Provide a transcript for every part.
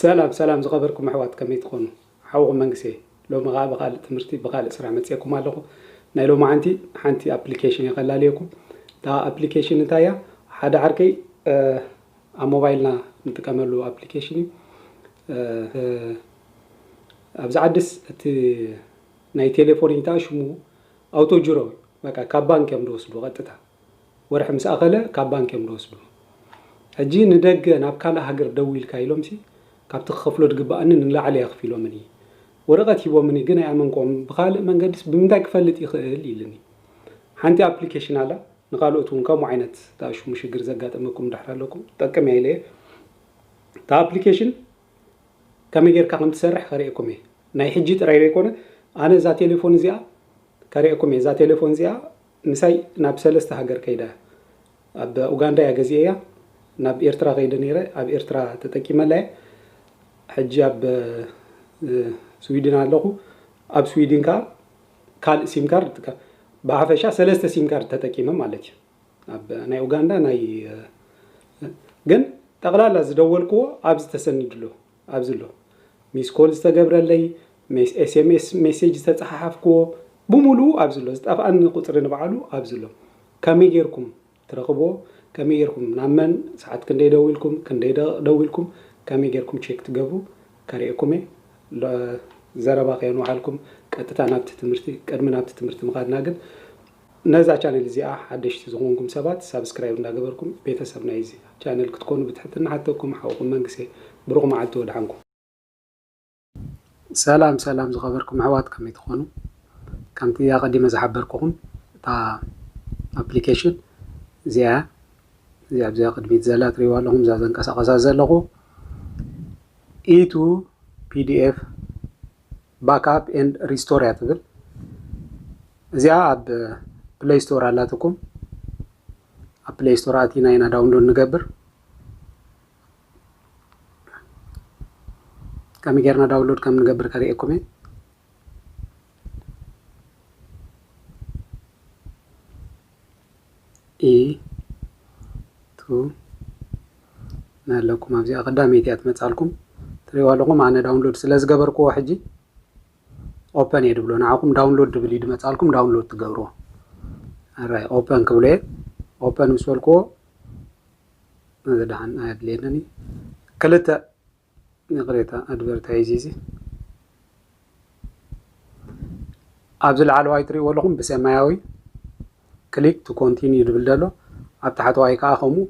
ሰላም ሰላም ዝኸበርኩም ኣሕዋት ከመይ ትኾኑ ሓውኹም መንግስየ ሎሚ ኸኣ ብኻልእ ትምህርቲ ብኻልእ ስራሕ መጺኤኩም ኣለኹ ናይ ሎማዓንቲ ሓንቲ ኣፕሊኬሽን እየ ከላልየኩም እታ ኣፕሊኬሽን እንታይ እያ ሓደ ዓርከይ ኣብ ሞባይልና ንጥቀመሉ ኣፕሊኬሽን እዩ ኣብዚ ዓድስ እቲ ናይ ቴሌፎን ኢንታ ሽሙ ኣውቶ ጅሮ በቃ ካብ ባንክ እዮም ዝወስዱ ቀጥታ ወርሒ ምስ ኣኸለ ካብ ባንክ እዮም ዝወስዱ ሕጂ ንደገ ናብ ካልእ ሃገር ደዊልካ ኢሎምሲ ካብቲ ክኸፍሎ ድግብኣኒ ንላዕሊ ኣኽፊሎምኒ ወረቀት ሂቦምኒ ግን ኣይኣመንክዎምን ብኻልእ መንገድስ ብምንታይ ክፈልጥ ይኽእል ኢልኒ ሓንቲ ኣፕሊኬሽን ኣላ ንኻልኦት ውን ከምኡ ዓይነት ዝኣሽሙ ሽግር ዘጋጠመኩም ድሕር ኣለኩም ትጠቅም እያ ኢለየ እታ ኣፕሊኬሽን ከመይ ጌርካ ከም ትሰርሕ ከርእየኩም እየ ናይ ሕጂ ጥራይ ዘይኮነ ኣነ እዛ ቴሌፎን እዚኣ ከርእየኩም እየ እዛ ቴሌፎን እዚኣ ምሳይ ናብ ሰለስተ ሃገር ከይዳ እያ ኣብ ኡጋንዳ እያ ገዚኤያ ናብ ኤርትራ ከይደ ነይረ ኣብ ኤርትራ ተጠቂመላ እየ ሕጂ ኣብ ስዊድን ኣለኹ ኣብ ስዊድን ከኣ ካልእ ሲም ካርድ ይጥቀም ብሓፈሻ ሰለስተ ሲም ካርድ ተጠቂመ ማለት እዩ ኣብ ናይ ኡጋንዳ ናይ ግን ጠቅላላ ዝደወልክዎ ኣብዚ ተሰኒድሉ ኣብዚ ኣሎ ሚስ ኮል ዝተገብረለይ፣ ሜስ ኤስኤምኤስ ሜሴጅ ዝተጸሓሓፍክዎ ብሙሉኡ ኣብዚ ኣሎ፣ ዝጠፍኣኒ ቁጽሪ ንባዕሉ ኣብዚ ኣሎ። ከመይ ጌርኩም ትረኽብዎ፣ ከመይ ጌርኩም ናብ መን ሰዓት ክንደይ ደዊልኩም፣ ክንደይ ደቕቕ ደዊልኩም፣ ከመይ ጌርኩም ቼክ ትገብሩ ከርእየኩም እየ። ሎ ዘረባ ከየንውሓልኩም ቀጥታ ናብቲ ትምህርቲ፣ ቅድሚ ናብቲ ትምህርቲ ምኻድና ግን፣ ነዛ ቻነል እዚኣ ሓደሽቲ ዝኮንኩም ሰባት ሳብስክራይብ እንዳገበርኩም ቤተሰብ ናይዚ ቻነል ክትኮኑ ብትሕትና እሓተኩም ሓውኩም መንግሰ ብሩክ መዓልቲ ወድሓንኩም። ሰላም ሰላም ዝኸበርኩም ኣሕዋት ከመይ ትኾኑ ከምቲ ኣቐዲመ ዝሓበርኩኹም እታ ኣፕሊኬሽን እዚኣ እዚኣ ኣብዚኣ ቅድሚት ዘላ ትሪእዋ ኣለኹም እዛ ዘንቀሳቐሳ ዘለኹ ኢቱ ፒዲኤፍ ባክኣፕ ኤንድ ሪስቶር እያ ትብል እዚኣ ኣብ ፕሌይ ስቶር ኣላትኩም ኣብ ፕሌይ ስቶር ኣቲና ኢና ዳውንሎድ ንገብር ከመይ ጌርና ዳውንሎድ ከም ንገብር ከርእየኩም እየ ኢ ቱ ናይ ኣለኩም ኣብዚኣ ቀዳመይቲ እያ ትመጻልኩም ትሪእዋ ኣለኹም ኣነ ዳውንሎድ ስለ ዝገበርክዎ ሕጂ ኦፐን እየ ድብሎ ንዓኹም ዳውንሎድ ድብል እዩ ድመጻልኩም ዳውንሎድ ትገብርዎ ኣራይ ኦፐን ክብሎ እየ ኦፐን ምስ በልክዎ እዚ ደሓን ኣየድልየንን እዩ ክልተ ይቕሬታ ኣድቨርታይዝ ኢዚ ኣብዚ ላዕለዋይ ትሪእዎ ኣለኹም ብሰማያዊ ክሊክ ቱ ኮንቲንዩ ዝብል ዘሎ ኣብ ታሕተዋይ ከዓ ከምኡ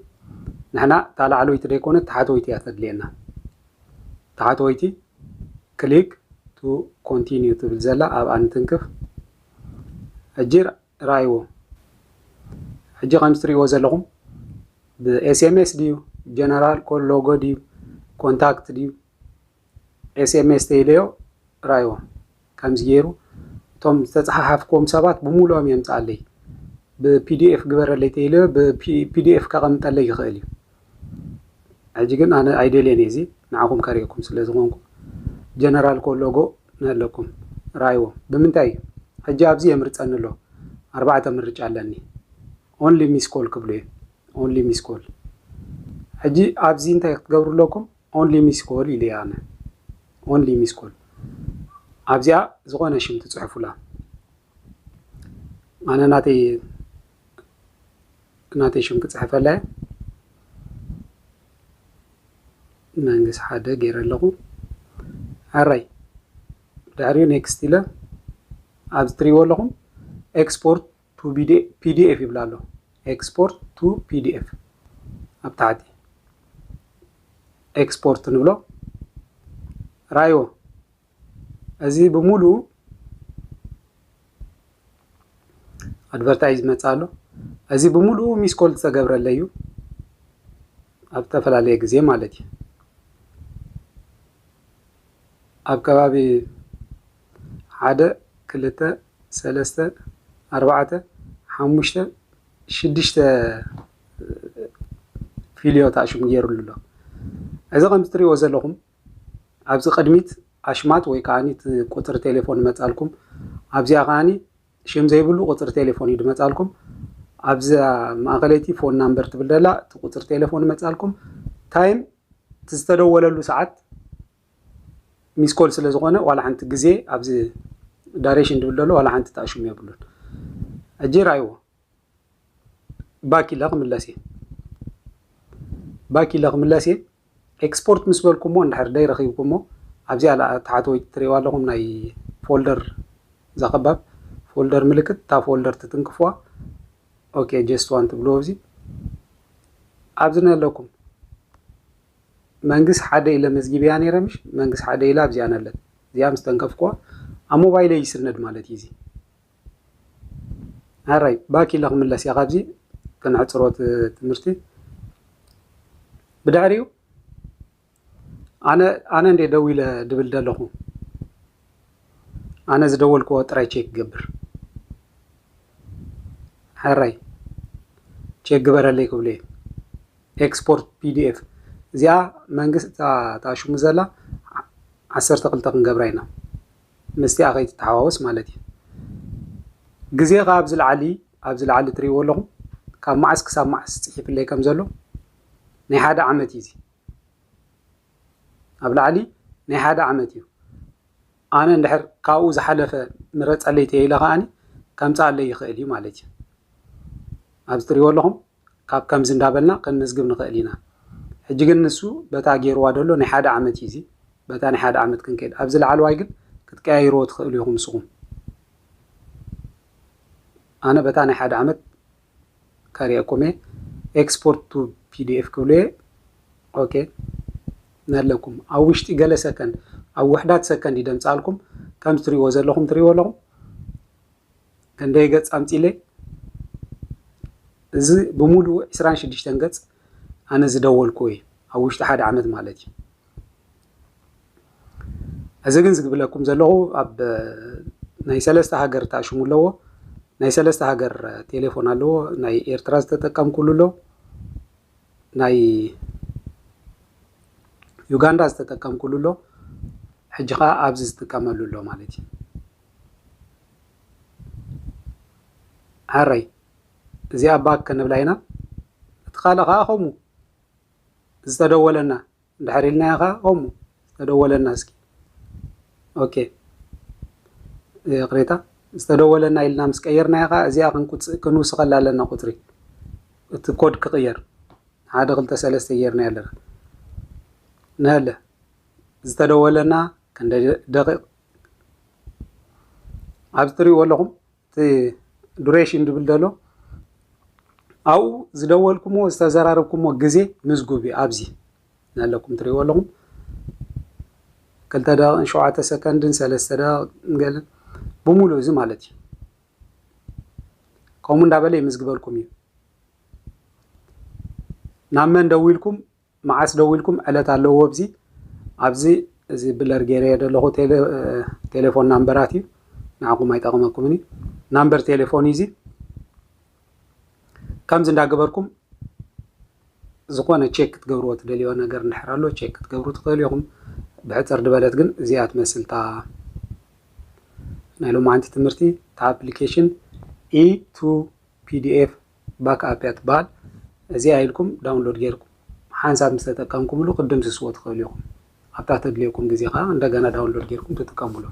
ንሕና እታ ላዕለወይቲ ዘይኮነት ታሕተወይቲ እያ ተድልየና ታሕተወይቲ ክሊክ ቱ ኮንቲንዩ ትብል ዘላ ኣብኣ ንትንክፍ ሕጂ ርኣይዎ ሕጂ ከምዚ ትሪእዎ ዘለኹም ብኤስኤምኤስ ድዩ ጀነራል ኮ ሎጎ ድዩ ኮንታክት ድዩ ኤስኤምኤስ ተይለዮ ርኣይዎ ከምዚ ገይሩ እቶም ዝተፀሓሓፍክዎም ሰባት ብምሉኦም የምፅኣለይ ብፒዲኤፍ ግበረለይ ተይለዮ ብፒዲኤፍ ከቐምጠለይ ይኽእል እዩ ሕጂ ግን ኣነ ኣይደልየን እየ እዚ ንዓኹም ከርእየኩም ስለ ዝኾንኩ ጀነራል ኮ ሎጎ ንኣለኩም ረኣይዎ ብምንታይ እዩ ሕጂ ኣብዚ የምርፀኒ ኣሎ ኣርባዕተ ምርጫ ኣለኒ ኦንሊ ሚስ ኮል ክብሉ እዮም ኦንሊ ሚስ ኮል ሕጂ ኣብዚ እንታይ ክትገብሩ ኣለኩም ኦንሊ ሚስ ኮል ኢለ ኣነ ኦንሊ ሚስ ኮል ኣብዚኣ ዝኾነ ሽም ትፅሕፉላ ኣነ ናተይ ናተይ ሽም ክጽሕፈላ እየ መንግስ ሓደ ገይረ ኣለኹ ዓራይ ድሕሪኡ ኔክስት ኢለ ኣብዚ ትሪእዎ ኣለኹም ኤክስፖርት ቱ ፒዲኤፍ ይብላ ኣሎ ኤክስፖርት ቱ ፒዲኤፍ ኣብ ታሕቲ ኤክስፖርት ንብሎ ራይዎ እዚ ብምሉኡ ኣድቨርታይዝ መፃ ኣሎ እዚ ብምሉኡ ሚስ ኮል ዝተገብረለ እዩ ኣብ ዝተፈላለየ ግዜ ማለት እዩ ኣብ ከባቢ ሓደ ክልተ ሰለስተ ኣርባዕተ ሓሙሽተ ሽዱሽተ ፊልዮ ተኣሽሙ ገይሩሉ ኣሎ እዚ ከምዚ ትሪእዎ ዘለኹም ኣብዚ ቅድሚት ኣሽማት ወይ ከኣኒ እቲ ቁጽሪ ቴሌፎን ይመጻልኩም ኣብዚኣ ከኣኒ ሽም ዘይብሉ ቁጽሪ ቴሌፎን እዩ ድመጻልኩም ኣብዛ ማእከለይቲ ፎን ናምበር ትብል ደላ እቲ ቁጽሪ ቴሌፎን ይመጻልኩም ታይም እቲ ዝተደወለሉ ሰዓት ሚስኮል ስለ ዝኾነ ዋላ ሓንቲ ግዜ ኣብዚ ዳሬሽን ድብል ደሎ ዋላ ሓንቲ ተኣሽሙ የብሉን ሕጂ ራይዎ ባክ ኢለ ክምለስ እየ ባክ ኢለ ክምለስ እየ ኤክስፖርት ምስ በልኩሞ እንድሕር ደይ ረኺብኩሞ ኣብዚኣ ለኣ ተሓተወይቲ ትርእይዋ ኣለኹም ናይ ፎልደር ዘኸባብ ፎልደር ምልክት እታ ፎልደር ትትንክፍዋ ኦኬ ጀስት ዋን ትብልዎ ኣብዚ ኣብዚ ነለኩም መንግስ ሓደ ኢለ መዝጊብያ ነይረ ምሽ መንግስ ሓደ ኢለ ኣብዚኣ ነለት እዚኣ ምስ ተንከፍክዋ ኣብ ሞባይለይ ይስነድ ማለት እዩ እዚ ሐራይ ባክ ኢለ ክምለስ እየ ካብዚ ከነሕፅሮ እቲ ትምህርቲ ብድሕሪኡ ኣነ ኣነ እንድየ ደው ኢለ ድብል ደለኹ ኣነ ዝደወልክዎ ጥራይ ቼክ ገብር ሐራይ ቼክ ግበረለይ ክብሉ እየ ኤክስፖርት ፒዲኤፍ እዚኣ መንግስቲ ታሽሙ ዘላ ዓሰርተ ክልተ ክንገብራ ኢና ምስቲኣ ከይትተሓዋወስ ማለት እዩ። ግዜ ከኣ ኣብዚ ላዕሊ ኣብዚ ላዕሊ ትርእይዎ ኣለኹም ካብ መዓስ ክሳብ መዓስ ጽሒፍለይ ከም ዘሎ ናይ ሓደ ዓመት እዩ እዚ ኣብ ላዕሊ ናይ ሓደ ዓመት እዩ ኣነ እንድሕር ካብኡ ዝሓለፈ ምረፀለይ ተይለ ከዓኒ ከምፅኣለይ ይኽእል እዩ ማለት እዩ ኣብዚ ትሪእዎ ኣለኹም ካብ ከምዚ እንዳበልና ከንምዝግብ ንክእል ኢና ሕጂ ግን ንሱ በታ ጌርዋ ደሎ ናይ ሓደ ዓመት እዩ እዚ በታ ናይ ሓደ ዓመት ክንከድ ኣብዚ ላዓልዋይ ግን ክትቀያይርዎ ትክእሉ ኢኩም ንስኩም ኣነ በታ ናይ ሓደ ዓመት ከሪኤኩም እየ ኤክስፖርት ቱ ፒዲኤፍ ክብሉ እየ ኦኬ ነለኩም ኣብ ውሽጢ ገለ ሰከንድ ኣብ ውሕዳት ሰከንድ ይደምጻልኩም ከም ትሪእዎ ዘለኹም ትሪእዎ ኣለኹም ከንደይ ገጽ ኣምጺለ እዚ ብሙሉኡ ዕስራን ሽዱሽተን ገጽ ኣነ ዝደወልኩዎ እዩ ኣብ ውሽጢ ሓደ ዓመት ማለት እዩ እዚ ግን ዝግብለኩም ዘለኹ ኣብ ናይ ሰለስተ ሃገር ተኣሽሙ ኣለዎ ናይ ሰለስተ ሃገር ቴሌፎን ኣለዎ ናይ ኤርትራ ዝተጠቀምኩሉ ኣሎ ናይ ዩጋንዳ ዝተጠቀምኩሉ ኣሎ ሕጂ ከዓ ኣብዚ ዝጥቀመሉ ኣሎ ማለት እዩ ሐረይ እዚኣ ባክ ከነብላ ኢና እቲ ካልእ ኸኣ ከምኡ ዝተደወለና እንድሕር ኢልናዮ ኸኣ ከምኡ ዝተደወለና እስኪ ኦኬ ይቕሬታ ዝተደወለና ኢልና ምስ ቀየርናዮ ኸኣ እዚኣ ክንውስኸላ ኣለና ቁፅሪ እቲ ኮድ ክቕየር ሓደ ክልተ ሰለስተ ጌርና ኣለና ንሀለ ዝተደወለና ክንደ ደቂቕ ኣብዚ ትሪእዎ ኣለኹም እቲ ዱሬሽን ድብል ዘሎ ኣብኡ ዝደወልኩምዎ ዝተዘራረብኩምዎ ግዜ ምዝጉብ እዩ ኣብዚ ኣለኩም ትሪእዎ ኣለኹም ክልተ ደቂቕን ሸውዓተ ሰከንድን ሰለስተ ደቂቕን ገለ ብምሉእ እዚ ማለት እዩ ከምኡ እንዳበለ ይምዝግበልኩም እዩ ናብ መን ደዊልኩም መዓስ ደዊልኩም ዕለት ኣለዎ ኣብዚ ኣብዚ እዚ ብለር ገይረዮ ደለኹ ቴለ ቴሌፎን ናምበራት እዩ ንዓኹም ኣይጠቕመኩምን እዩ ናምበር ቴሌፎን እዩ እዚ ከምዚ እንዳገበርኩም ዝኾነ ቼክ ክትገብርዎ ትደልዮ ነገር እንድሕር ኣሎ ቼክ ክትገብሩ ትኽእሉ ኢኹም ብሕፅር ድበለት ግን እዚኣ ትመስልታ ናይ ሎማዓንቲ ትምህርቲ እታ ኣፕሊኬሽን ኢ ቱ pdf backup እያ ትበሃል እዚኣ ኢልኩም ዳውንሎድ ጌርኩም ሓንሳብ ምስ ተጠቀምኩምሉ ክትድምስስዎ ትኽእሉ ኢኹም ኣብታ ተድልየኩም ግዜ ከኣ እንደገና ዳውንሎድ ጌርኩም ትጥቀምሉ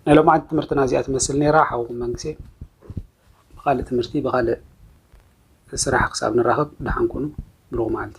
ናይ ሎምዓንቲ ትምህርትና እዚኣ ትመስል ነይራ ሓውኩም መንግሴ ብኻልእ ትምህርቲ ብኻልእ ስራሕ ክሳብ ንራኸብ ደሓን ኩኑ ብሩኽ መዓልቲ